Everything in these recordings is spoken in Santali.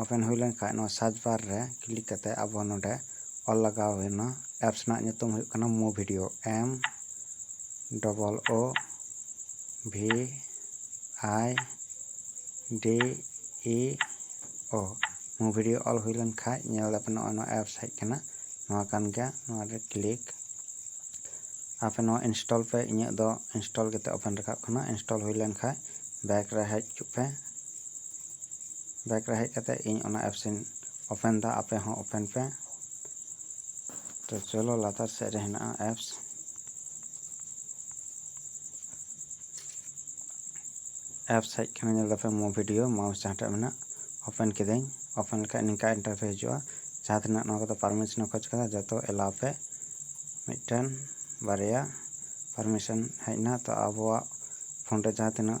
ᱳᱯᱮᱱ ᱦᱩᱭ ᱞᱮᱱ ᱠᱷᱟᱱ ᱱᱚᱣᱟ ᱥᱟᱨᱪ ᱵᱟᱨ ᱨᱮ ᱠᱞᱤᱠ ᱠᱟᱛᱮ ᱟᱵᱚ ᱱᱚᱰᱮ ᱚᱞ ᱞᱟᱜᱟᱣ ᱦᱩᱭᱱᱟ ᱮᱯᱥ ᱨᱮᱱᱟᱜ ᱧᱩᱛᱩᱢ ᱦᱩᱭᱩᱜ ᱠᱟᱱᱟ ᱢᱳ video M double O V I D E O Moo video ᱚᱞ ᱦᱩᱭ ᱞᱮᱱ ᱠᱷᱟᱱ ᱧᱮᱞ ᱫᱟᱯᱮ ᱱᱚᱜᱼᱚᱭ ᱱᱚᱣᱟ ᱮᱯᱥ ᱦᱮᱡ ᱠᱟᱱᱟ ᱱᱚᱣᱟ ᱠᱟᱱ ᱜᱮᱭᱟ ᱱᱚᱣᱟ ᱨᱮ ᱠᱞᱤᱠ ᱟᱯᱮ ᱱᱚᱣᱟ ᱤᱱᱥᱴᱚᱞ ᱯᱮ ᱤᱧᱟᱹᱜ ᱫᱚ ᱤᱱᱥᱴᱚᱞ ᱠᱟᱛᱮ ᱳᱯᱮᱱ ᱨᱟᱠᱟᱵ ᱠᱟᱱᱟ ᱤᱱᱥᱴᱚᱞ ᱦᱩᱭ ᱞᱮᱱ ᱠᱷᱟᱱ ᱵᱮᱠ ᱨᱮ ᱦᱮᱡ ᱦᱚᱪᱚᱜ ᱯᱮ ᱵᱮᱠ ᱨᱮ ᱦᱮᱡ ᱠᱟᱛᱮ ᱤᱧ ᱚᱱᱟ ᱮᱯᱥ ᱤᱧ ᱳᱯᱮᱱ ᱮᱫᱟ ᱟᱯᱮ ᱦᱚᱸ ᱳᱯᱮᱱ ᱯᱮ ᱛᱚ ᱪᱚᱞᱚ ᱞᱟᱛᱟᱨ ᱥᱮᱫ ᱨᱮ ᱦᱮᱱᱟᱜᱼᱟ ᱮᱯᱥ ᱮᱯᱥ ᱦᱮᱡ ᱠᱟᱱᱟ ᱧᱮᱞ ᱫᱟᱯᱮ ᱢᱳ ᱵᱷᱤᱰᱤᱭᱳ ᱢᱟᱣᱩᱥ ᱡᱟᱦᱟᱸᱴᱟᱜ ᱢᱮᱱᱟᱜ ᱳᱯᱮᱱ ᱠᱤᱫᱟᱹᱧ ᱳᱯᱮᱱ ᱞᱮᱠᱷᱟᱡ ᱱᱤᱝᱠᱟ ᱤᱱᱴᱟᱨᱯᱷᱮ ᱦᱤᱡᱩᱜᱼᱟ ᱡᱟᱦᱟᱸ ᱛᱤᱱᱟᱹᱜ ᱱᱚᱣᱟ ᱠᱚᱫᱚ ᱯᱟᱨᱢᱤᱥᱚᱱ ᱮ ᱠᱷᱚᱡ ᱠᱟᱫᱟ ᱡᱚᱛᱚ ᱮᱞᱟᱣ ᱯᱮ ᱢᱤᱫᱴᱮᱱ ᱵᱟᱨᱭᱟ ᱯᱟᱨᱢᱤᱥᱚᱱ ᱦᱮᱡ ᱮᱱᱟ ᱛᱚ ᱟᱵᱚᱣᱟᱜ ᱯᱷᱳᱱ ᱨᱮ ᱡᱟᱦᱟᱸ ᱛᱤᱱᱟᱹᱜ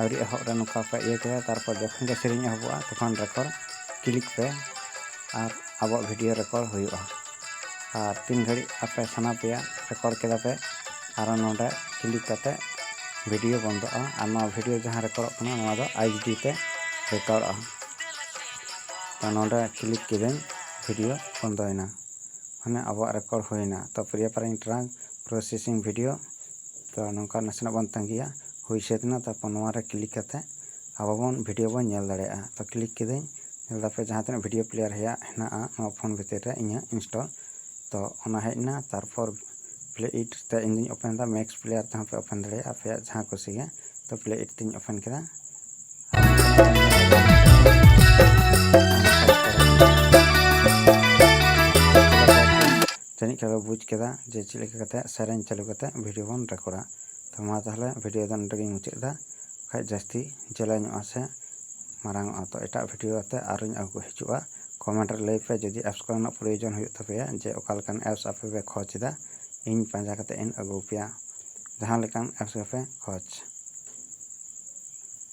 ᱟᱹᱣᱨᱤ ᱮᱦᱚᱵ ᱨᱮ ᱱᱚᱝᱠᱟ ᱯᱮ ᱤᱭᱟᱹ ᱠᱮᱫᱟ ᱛᱟᱨᱯᱚᱨ ᱡᱚᱠᱷᱚᱱ ᱜᱮ ᱥᱮᱨᱮᱧ ᱮᱦᱚᱵᱚᱜᱼᱟ ᱛᱚᱠᱷᱚᱱ ᱨᱮᱠᱚᱨᱰ ᱠᱞᱤᱠ ᱯᱮ ᱟᱨ ᱟᱵᱚᱣᱟᱜ ᱵᱷᱤᱰᱤᱭᱳ ᱨᱮᱠᱚᱨᱰ ᱦᱩᱭᱩᱜᱼᱟ ᱟᱨ ᱛᱤᱱ ᱜᱷᱟᱹᱲᱤᱡ ᱟᱯᱮ ᱥᱟᱱᱟ ᱯᱮᱭᱟ ᱨᱮᱠᱚᱨᱰ ᱠᱮᱫᱟ ᱯᱮ ᱟᱨᱚ ᱱᱚᱰᱮ ᱠᱞᱤᱠ ᱠᱟᱛᱮ ᱵᱷᱤᱰᱤᱭᱳ ᱵᱚᱱᱫᱚᱜᱼᱟ ᱟᱨ ᱱᱚᱣᱟ ᱵᱷᱤᱰᱤᱭᱳ ᱡᱟᱦᱟᱸ ᱨᱮᱠᱚᱨᱰᱚᱜ ᱠᱟᱱᱟ ᱱᱚᱣᱟ ᱫᱚ ᱟᱭᱤᱪ ᱰᱤ ᱛᱮ ᱨᱮᱠᱚᱨᱰᱚᱜᱼᱟ ᱛᱚ ᱱᱚᱰᱮ ᱠᱞᱤᱠ ᱠᱤᱫᱟᱹᱧ ᱵᱷᱤᱰᱤᱭᱳ ᱵᱚᱱᱫᱚᱭᱮᱱᱟ ᱢᱟᱱᱮ ᱟᱵᱚᱣᱟᱜ ᱨᱮᱠᱚᱨᱰ ᱦᱩᱭᱮᱱᱟ ᱛᱚ Priya pairing track processing video ᱛᱚ ᱱᱚᱝᱠᱟ ᱱᱟᱥᱮᱱᱟᱜ ᱵᱚᱱ ᱛᱟᱺᱜᱤᱭᱟ ᱦᱩᱭ ᱥᱟᱹᱛ ᱮᱱᱟ ᱛᱟᱨᱯᱚᱨ ᱱᱚᱣᱟ ᱨᱮ ᱠᱞᱤᱠ ᱠᱟᱛᱮ ᱟᱵᱚ ᱵᱚᱱ ᱵᱷᱤᱰᱭᱳ ᱵᱚᱱ ᱧᱮᱞ ᱫᱟᱲᱮᱭᱟᱜᱼᱟ ᱛᱚ ᱠᱞᱤᱠ ᱠᱤᱫᱟᱹᱧ ᱧᱮᱞ ᱮᱫᱟ ᱯᱮ ᱡᱟᱦᱟᱸ ᱛᱤᱱᱟᱹᱜ ᱵᱷᱤᱰᱭᱳ ᱯᱞᱮᱭᱟᱨ ᱦᱮᱭᱟᱜ ᱦᱮᱱᱟᱜᱼᱟ ᱱᱚᱣᱟ ᱯᱷᱳᱱ ᱵᱷᱤᱛᱤᱨ ᱨᱮ ᱤᱧᱟᱹᱜ ᱤᱱᱥᱴᱚᱞ ᱛᱚ ᱚᱱᱟ ᱦᱮᱡ ᱮᱱᱟ ᱛᱟᱨᱯᱚᱨ ᱯᱞᱮ ᱤᱴ ᱛᱮ ᱤᱧ ᱫᱩᱧ ᱳᱯᱮᱱ ᱮᱫᱟ ᱢᱮᱠᱥ ᱯᱞᱮᱭᱟᱨ ᱛᱮᱦᱚᱸ ᱯᱮ ᱳᱯᱮᱱ ᱫᱟᱲᱮᱭᱟᱜᱼᱟ ᱟᱯᱮᱭᱟᱜ ᱡᱟᱦᱟᱸ ᱠᱩᱥᱤ ᱜᱮ ᱛᱚ ᱯᱞᱮ ᱤᱴ ᱛᱤᱧ ᱳᱯᱮᱱ ᱠᱮᱫᱟ ᱡᱟᱹᱱᱤᱡ ᱠᱷᱟᱱ ᱯᱮ ᱵᱩᱡᱽ ᱠᱮᱫᱟ ᱡᱮ ᱪᱮᱫ ᱞᱮᱠᱟ ᱠᱟᱛᱮ ᱥᱮᱨᱮᱧ ᱪᱟᱹᱞᱩ ᱠᱟᱛᱮ ᱵᱷᱤᱰᱤᱭᱳ ᱵᱚᱱ ᱨᱮᱠᱚᱨᱰᱟ ᱛᱚ ᱢᱟ ᱛᱟᱦᱚᱞᱮ ᱵᱷᱤᱰᱤᱭᱳ ᱫᱚ ᱱᱚᱰᱮ ᱜᱤᱧ ᱢᱩᱪᱟᱹᱫ ᱮᱫᱟ ᱵᱟᱠᱷᱟᱡ ᱡᱟᱹᱥᱛᱤ ᱡᱮᱞᱮᱧᱚᱜᱼᱟ ᱥᱮ ᱢᱟᱨᱟᱝᱚᱜᱼᱟ ᱛᱚ ᱮᱴᱟᱜ ᱵᱷᱤᱰᱤᱭᱳ ᱟᱛᱮ ᱟᱨᱚᱧ ᱟᱹᱜᱩ ᱦᱤᱡᱩᱜᱼᱟ ᱠᱚᱢᱮᱱᱴ ᱨᱮ ᱞᱟᱹᱭ ᱯᱮ ᱡᱩᱫᱤ ᱮᱯᱥ ᱠᱚᱨᱮᱱᱟᱜ ᱯᱨᱚᱭᱳᱡᱚᱱ ᱦᱩᱭᱩᱜ ᱛᱟᱯᱮᱭᱟ ᱡᱮ ᱚᱠᱟ ᱞᱮᱠᱟᱱ ᱮᱯᱥ ᱟᱯᱮ ᱯᱮ ᱠᱷᱚᱡᱽ ᱮᱫᱟ ᱤᱧ ᱯᱟᱸᱡᱟ ᱠᱟᱛᱮ ᱤᱧ ᱟᱹᱜᱩ ᱟᱯᱮᱭᱟ ᱡᱟᱦᱟᱸ ᱞᱮᱠᱟᱱ ᱮᱯᱥ ᱜᱮᱯᱮ ᱠᱷᱚᱡᱽ